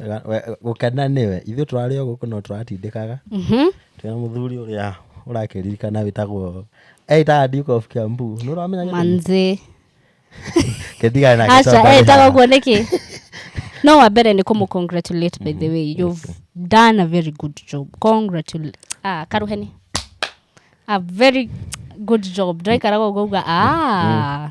Wega- we- gũkena nĩwe ithuĩ tũrarĩ o gũkũ no tũratindĩkaga Mhm. twĩna mũthuri ũrĩa ũrakĩririkana wĩtagwo eitaga duke of kiambu nĩ ũramenya gĩtũmi? manzi Kĩndigana nake aca tondũ etaga haha. guo nĩkĩ no wa mbere nĩ kũmũ congratulate by the way you've done a very good job congratulate ah karuheni a very good job ndaikaraga ũgauga ah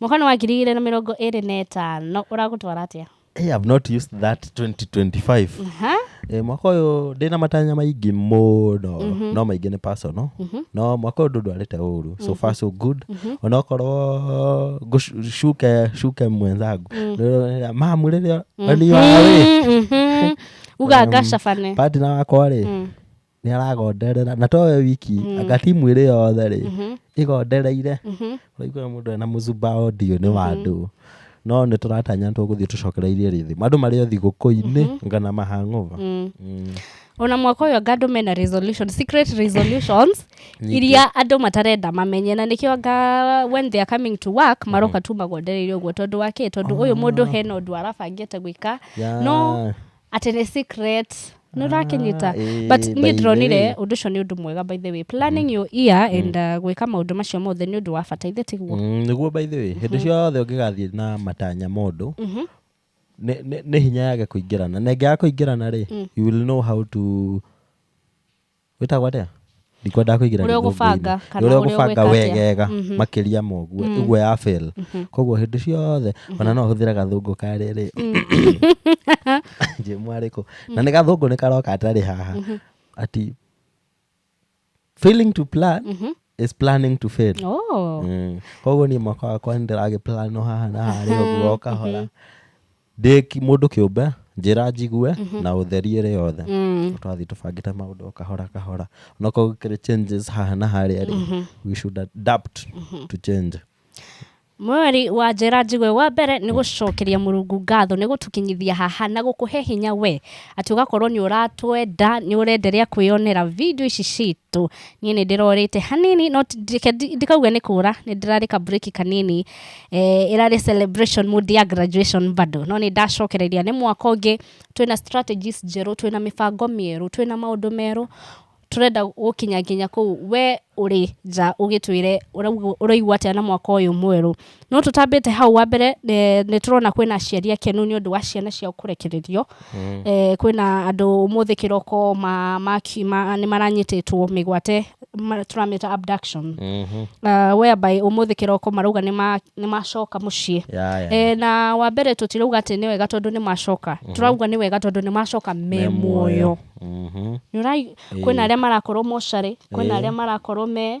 Mwaka nĩ wa ngiri igĩrĩ na mĩrongo ĩrĩ na ĩtano ũragũtwara atĩa? Hey, I've not used that 2025. Aha. Eh, mwaka ũyũ ndĩna matanya maingĩ mũno no maingĩ nĩ personal no mwaka ũyũ ndũ ndwarĩte ũru so far so good onokorwo ngũ- shuke shuke mwenzangu Ndĩrona, mamu rĩrĩa aniwawe Mhm. uga ngacabane patina wakwa rĩ nĩ aragonderera na to we wiki mm. anga timu ĩrĩ yothe rĩ mm -hmm. ĩgondereire mm -hmm. ũraigua mũndũ ena mũcumba audio nĩ wa andũ mm -hmm. no nĩ tũratanya nĩ tũgũthiĩ tũcokereirie rĩthĩ andũ marĩ o thigũkũ-inĩ mm -hmm. ngana mahang'ova mm. mm. ona mwaka ũyũ anga andũ mena resolution secret resolutions iria andũ matarenda mamenye na nĩkĩo anga when they are coming to work mm-hmm. maroka tu magondereire ũguo tondũ wa kĩ tondũ ũyũ ah. mũndũ hena ũndũ arabangĩte gwĩka no atĩ nĩ secret nä å rakinyita Ah, ĩĩ, but by niä the ndä ronire way. å ndå å cio nä å ndå mwega by the way planning your ear and gwä ka maå ndå macio mothe nä å ndå wa bata ithe tiguo Mm, nĩguo by the way hĩndĩ ciothe ũngĩgathiĩ na matanya mũndũ Mhm. nĩ- nĩ nĩ hinya yage kũingĩrana na ĩngĩaga kũingĩrana rĩ you will know how to wĩtagwo atĩa ndikwendaga kũingĩra Ũrĩa ũgũbanga, gĩthũngũ-inĩ. kana ũrĩa ũrĩa ũgũbanga ũgwĩka atĩa. wegega Mhm. makĩria ma ũguo Mm. ũguo ya fail Mhm. koguo hĩndĩ ciothe ona no hũthĩre gathũngũ ka rĩrĩ njĩ mwarĩkũ na nĩ gathũngũ nĩ karoka atarĩ haha Mhm. ati failing to plan Mhm. is planning to fail Oh. Mm. koguo niĩ mwaka wakwa nĩ ndĩragĩplano haha na harĩa ũguo o kahora ndĩ ki- mũndũ kĩũmbe njĩra njigue na ũtheri ĩrĩ yothe Mm. twathi tũbangĩte maũndũ o kahora kahora onakorwo gũkĩrĩ changes haha na harĩa rĩ we should adapt to change mweri wa njĩra njigue wa mbere nĩ gũcokeria mũrungu ngatho nĩ gũtũkinyithia haha na gũkũhe hinya we atĩ ũgakorwo nĩ ũratwenda nĩ ũrenderea kwĩyonera video ici citũ niĩ nĩ ndĩrorĩte hanini no ti- ndike- ndi- ndikauga nĩ kũra nĩ ndĩrarĩka break kanini eh, ĩrarĩ celebration mood ya graduation bado no nĩ ndacokereria nĩ mwaka ũngĩ twĩna strategies njerũ twĩna mĩbango mĩerũ twĩna maũndũ merũ tũrenda gũkinya nginya kũu we ũrĩ nja ũgĩtwĩre ũraugu- ũraigua atĩa na mwaka ũyũ mwerũ no tũtambĩte hau wa mbere nĩ tũrona kwĩna aciari akenu nĩ ũndũ wa ciana ciao kũrekererio mm. e, kwĩna andũ ũmũthĩ kĩroko ma, ma, ma, nĩ maranyitĩtwo mĩgwate tũramĩta abduction mm -hmm. uh, whereby ũmũthĩ kĩroko marauga nĩ macoka mũciĩ yeah, yeah. E, na wa mbere tũtirauga atĩ nĩ wega tondũ nĩ macoka mm -hmm. tũrauga nĩ wega tondũ nĩ macoka me muoyo mm -hmm. kwĩna arĩa marakorwo mocarĩ kwĩna arĩa marakorwo me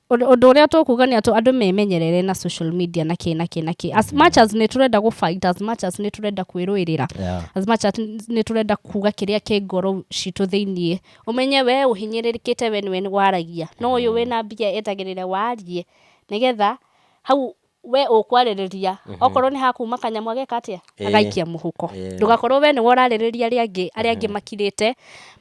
Ũndũ ũndũ ũrĩa tũkuga nĩ atũ andũ memenyerere na social media na kĩ na kĩ na kĩ as much as nĩ tũrenda gũfight as much as nĩ tũrenda kwĩrũĩrĩra Yeah. as much as nĩ tũrenda kuga kĩrĩa kĩ ngoro citũ thĩiniĩ ũmenye we ũhinyĩrĩrĩkĩte we nĩwe waragia no ũyũ wĩna mbia etagĩrĩra warie nĩgetha hau we ũkwarĩrĩria okorwo nĩ hakuma kanyamũ ageka atĩa Ĩĩ. agaikia mũhuko Ĩĩ. ndũgakorwo we nĩwe ũrarĩrĩria arĩa angĩ arĩa angĩ makirĩte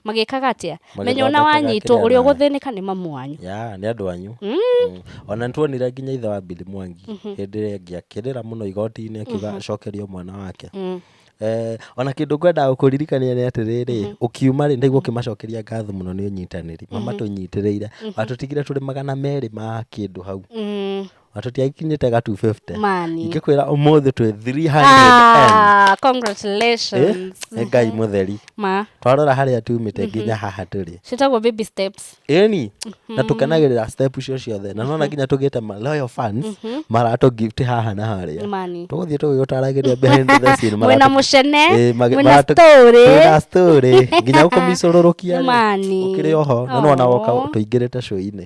magĩkaga atĩa menya ona Magĩthondekaga wanyitwo kĩrĩa ũrĩa na- ũgũthĩnĩka nĩ mamu wanyu ya nĩ andå anyu Mm, ona nä tuonire nginya ithe wa mbili mwangi hä ndä ä rä angä akä rä ra må no igoti-inĩ akiuga acokerio mwana wake mm. Eh, ona kä ndå ngwendaga gå kå ririkania nä atä rä rä å kiuma rä ndaigua å kä macokeria ngatho må no nä å nyitanä ri mama tå nyitä rä ire watå tigire tå rä magana merä ma kä ndå hau Mm, na tũtiakinyĩte ga 250 mani ingĩkwĩra ũmũthĩ twĩ 300 Ah, congratulations nĩ ngai mũtheri ma twarora harĩa tumĩte nginya haha tũrĩ citagwo baby steps ĩni na tũkenagĩrĩra step icio ciothe na nona nginya tũgĩte ma loyal fans maratũ gift haha na harĩa mani tũgũthiĩ tũgĩgũtaragĩria behind the scene mwena maratũ- mũcene Eh, magi- mwena maratũ- story mwĩna story nginya gũkũmicũrũrũkia rĩ, Mani. ũkĩrĩ oho na nona woka Aw. tũingĩrĩte show-inĩ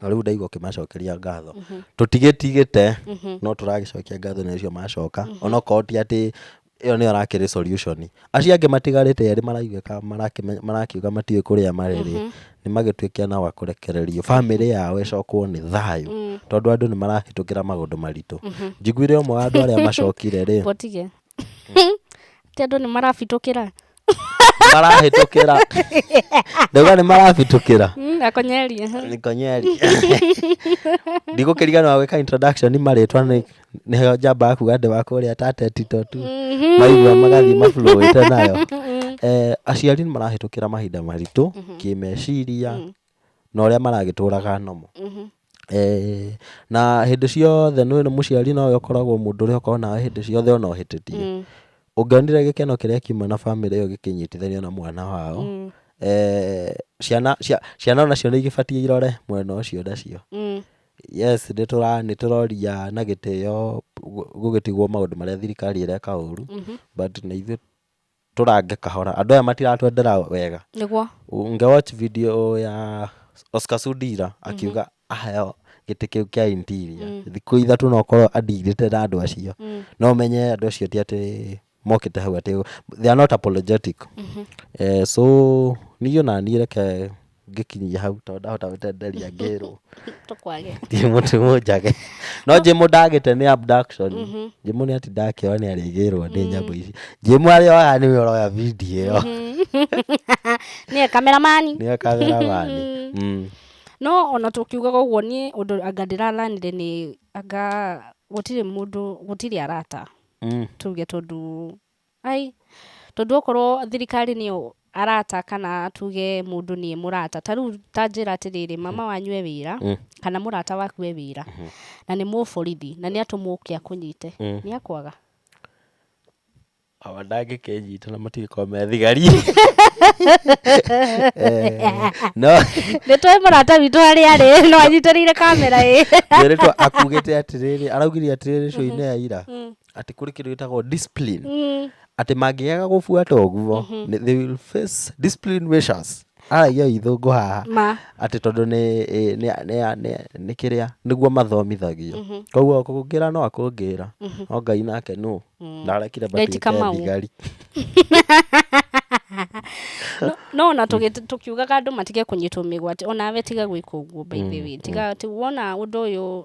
na rĩu ndaigua ũkĩmacokeria ngatho tũtigĩtigĩte no tũragĩcokia ngatho nĩ ũcio macoka onokorwo ti atĩ ĩyo nĩyo rakĩrĩ solution acio angĩ matigarĩte erĩ maraigwĩka marakĩme- marakiuga matiũĩ kũrĩa marĩrĩ nĩ magĩtuĩke na wa kũrekererio bamĩrĩ yao ĩcokwo nĩ thayũ tondũ andũ nĩ marahĩtũkĩra maũndũ maritũ njiguire ũmwe wa andũ arĩa macokire rĩ Botige. atĩ andũ nĩ marabitũkĩra marahĩtũkĩra ndauga nĩ marabĩtũkĩra Mm, akonyeria nikonyeri ndigũkĩrigana wa gwĩka introduction nĩ marĩtwa nĩ nĩho njambaga kuga ndĩ wa kũrĩa tatetito tu maigua magathiĩ maflowĩte nayo eh, aciari nĩ marahĩtũkĩra mahinda maritũ kĩmeciria na ũrĩa maragĩtũraga normal. Eh, na hĩndĩ ciothe nĩ mũciari nawe ũkoragwo mũndũ ũrĩa ũkoragwo nawe hĩndĩ ciothe ona ũhĩtĩtie ũngĩonire gĩkeno kĩrĩa kiuma na bamĩrĩ ĩyo gĩkĩnyitithanio na mwana wao eh, ciana cia- ciana nacio nĩ igĩbatiĩ irore mwena ũcio nacio yes nĩ tũra- nĩ tũroria na gĩtĩo gu- gũgĩtigwo maũndũ marĩa thirikari ĩreka ũru but na ithuĩ tũrange kahora andå aya matiratwendera wega nĩguo nge watch video ya Oscar Sudira akiuga aheo gĩtĩ kĩu kĩa interior thikũ ithatũ no korwo andirĩte na andũ acio no menye andũ acio ti atĩ mokĩte hau atĩ they are not apologetic eh, so niĩ ona niĩ reke ngĩkinyia hau tondũ ndahota gũtenderia ngĩrwo tũkwage njimũ ti mũnjage no njimũ ndagĩte nĩ abduction njimũ nĩ ati ndakĩoa nĩ arĩgĩrwo nĩ nyamũ ici njimũ arĩa oyaga nĩwe ũroya video ĩyo nĩwe kameramani nĩyo kameramani Mm. no ona tũkiugaga ũguo niĩ ũndũ anga ndĩralanire nĩ anga gũtirĩ mũndũ gũtirĩ arata Mm. tuge tondũ Ai, tondũ okorwo thirikari nĩyo arata kana tuge mũndũ nĩ mũrata ta rĩu ta njĩra atĩrĩrĩ mama wanyu e wĩra mm. kana mũrata waku e wĩra mm -hmm. na nĩ mũborithi na nĩ atũmwo ũke akũnyite mm. nĩ akwaga awa ndangĩkenyita na matigĩkorwo me thigari eh, no nĩ tũĩ mũrata witũ harĩ arĩ no anyitĩrĩire kamera ĩ nĩrĩtwa akugĩte atĩrĩrĩ araugire atĩrĩrĩ shoinĩ ya ira mm. atĩ kũrĩ kĩndũ gĩtagwo discipline Mm. atĩ mangĩaga gũbuata ũguo nĩ- they will face discipline measures aragia ithũngũ haha Ma. atĩ tondũ nĩ ĩ- nĩ- nĩ- nĩ- nĩ kĩrĩa nĩguo mathomithagio koguo kũngĩra no akũngĩra no ngai nake nũ ndarekire Leti Kamau. thigari No- no ona tũgĩ- tũkiugaga andũ matige kũnyitwo mĩgwate onawe tiga gwĩka ũguo by the way tiga ti- wona ũndũ ũyũ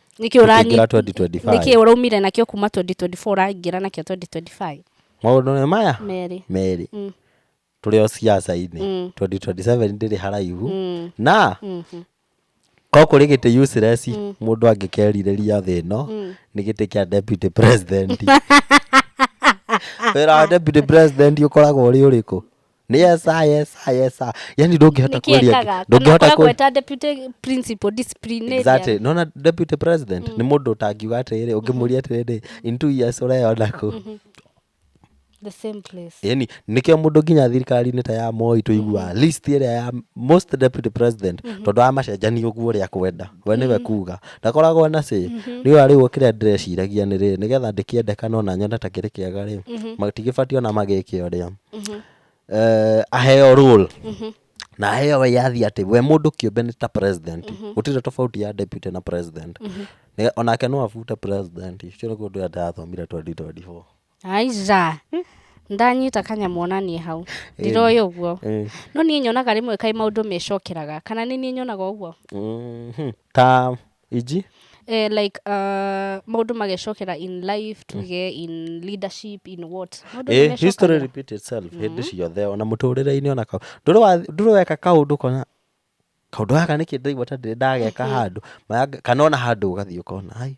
nĩkĩ ũraingĩra ũranyi- 2025 nĩkĩ ũraumire nakĩo kuma 2024 ũraingĩra nakĩo 2025 maũndũ nĩ maya merĩ merĩ Mm. tũrĩ o ciaca-inĩ Mm. 2027 ndĩrĩ haraihu Mm. na Mhm. ko kũrĩ gĩtĩ useless mũndũ angĩkerirĩria thĩ ĩno nĩ gĩtĩ kĩa deputy president wĩra wa deputy president ũkoragwo ũrĩ ũrĩkũ nĩ yesa yesa yesa yani ndũngĩhota nĩkĩ ekaga kweria kana ndũngĩhota akoragwo kwe- eta deputy principal disciplinarian Exactly. nona deputy president nĩ mũndũ ũtangiuga atĩrĩrĩ ũngĩmũria atĩrĩrĩ in two years ũreyona kũ the same place yani nĩkĩo mũndũ nginya thirikari-inĩ ta ya moi tũiguaga list ĩrĩa ya most deputy president tondũ wa macenjani ũguo ũrĩa kwenda we nĩwe kuga ndakoragwo na cĩ rĩu arĩu kĩrĩa ndĩreciragia nĩ rĩrĩ nĩgetha ndĩkĩendekana ona nyone ta kĩrĩ kĩega rĩ matigĩbatiĩ ona magĩke ũrĩa eh, aheo rule na aheo wĩyathi atĩ we mũndũ kĩũmbe nĩ ta president gũtirĩ tofauti ya deputy na president Nĩ- onake no abute president ũcio nĩguo ũndũ ũrĩa ndĩrathomire 2024 aiza ndanyita kanyamũ onanie hau ndiroĩ ũguo Eh, no niĩ nyonaga rĩmwe kaĩ maũndũ mecokeraga kana nĩ niĩ nyonaga ũguo mhm. ta Inji? Eh, like uh, maũndũ magecokera in life tuge in leadership in what Maũndũ Eh, nĩmecokagĩra. history repeat itself hĩndĩ ciothe ona mũtũrĩre-inĩ ona kaũ- ndũrĩ wa- ndũrĩ weka kaũndũ kona kaũndũ gaka nĩkĩ ndaigua ta ndĩrĩ ndageka handũ Maya- kana ona handũ ũgathiĩ ũkona ai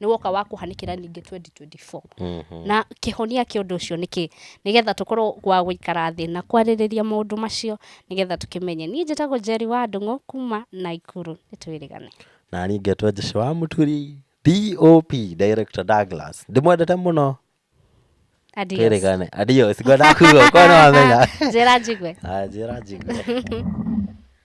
nĩ woka wa kũhanĩkĩra ningĩ 2024 na kĩhonia kĩa ũndũ ũcio nĩkĩ nĩgetha tũkorwo gwa gũikara thĩ na kwarĩrĩria maũndũ macio nĩgetha tũkĩmenye niĩ njĩtagwo Njeri wa Ndũng'ũ kuma Naikuru nĩ twĩrĩgane na niĩ ngetwo Jesu wa Mũturi DOP Director Douglas ndĩmwendete mũno Adios. twĩrĩgane adios ngwendaga kuga okorwo nĩ wamenya njĩra njigwe Ah, njĩra njigwe